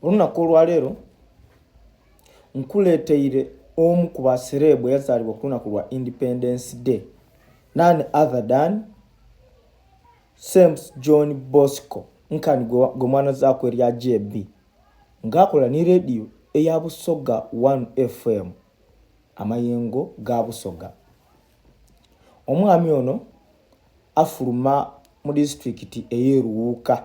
olunaku olwaleero nkuleeteire omu ku basereebu eyazaalibwa ku lunaku lwa independence day none other than sames john bosco nkani gwe mwana zaako erya jb ng'akola ne rediyo eya busoga 1 fm amayengo ga busoga omwami ono afuluma mu disitulikiti ey'eruwuuka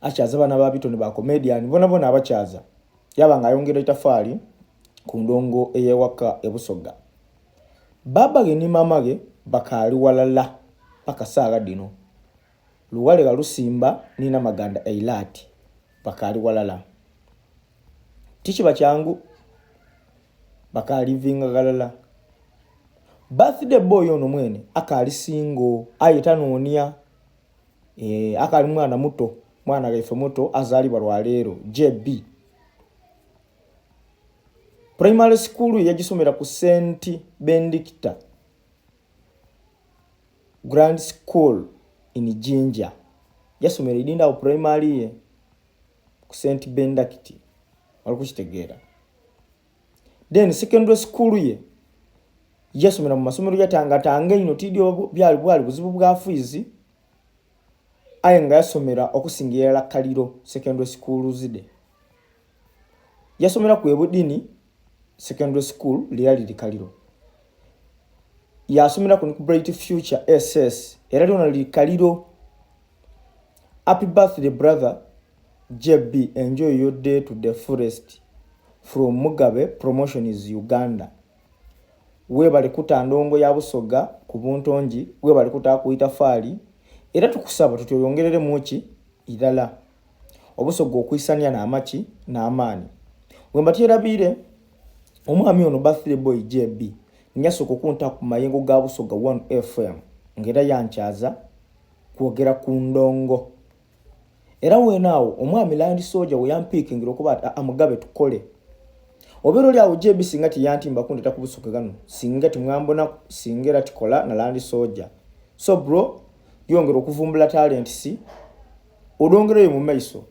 akyaza bana ba bitone ba comedian bona bona abakyaza yaba nga ayongera itafali ku ndongo eyewaka ebusoga baba ge ni mama ge bakali walala paka saga dino luwale ga lusimba nina maganda eilati bakali walala tichi bachangu bakali vinga galala birthday boy ono mwene akali singo ayeta nonia eh, akali mwana muto mwana weffe muto azaalibwa lwaleero jb primary school yagisomera ku st bendicta grand school in jinja yasomera edindawo primary ye ku st bendicti walikukitegeera then secondary school ye yasomera mu masomero yatangatanga ino tidi byali bwali buzibu bwa fiizi aye nga yasomera okusingira la kaliro secondary school zide yasomera ku ebudini secondary school lyali li kaliro yasomera ku bright future ss era lyona li kaliro happy birthday brother JB enjoy your day to the fullest from Mugabe promotion is Uganda. Webale kuta ndongo ya busoga ku buntongi, webale kuta ku itafaali era tukusaba tuti oyongerere muki irala obusoga okuisania na amaki na amani. Wemba tiyerabire omwami ono birthday boy JB nyasoko okunta ku mayengo ga busoga 1 FM ngera yankyaza kwogera ku ndongo. era weena awo omwami land soja weyampiikingira okuba ati amugabe tukole obeera oli awo jb singa teyantimba kundeta kubusuke gano singa temwambona singa era tikola na land soja so bro yongera okuvumbula talent si olwongereyo mu maiso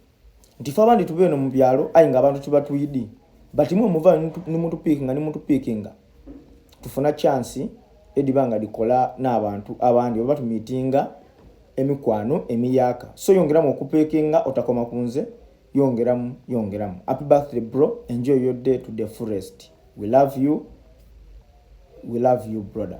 nti fe abandi tuba eno mu byalo ayi nga abantu tuba tuyidi but mwe muva nimutupiikinga nimutupiikinga tufuna chansi ediba nga likola n'abantu abandi oba tumiitinga emikwano emiyaka so yongeramu okupekinga otakoma kunze yongeramu yongeramu happy birthday bro enjoy your day to the forest we love you we love you brother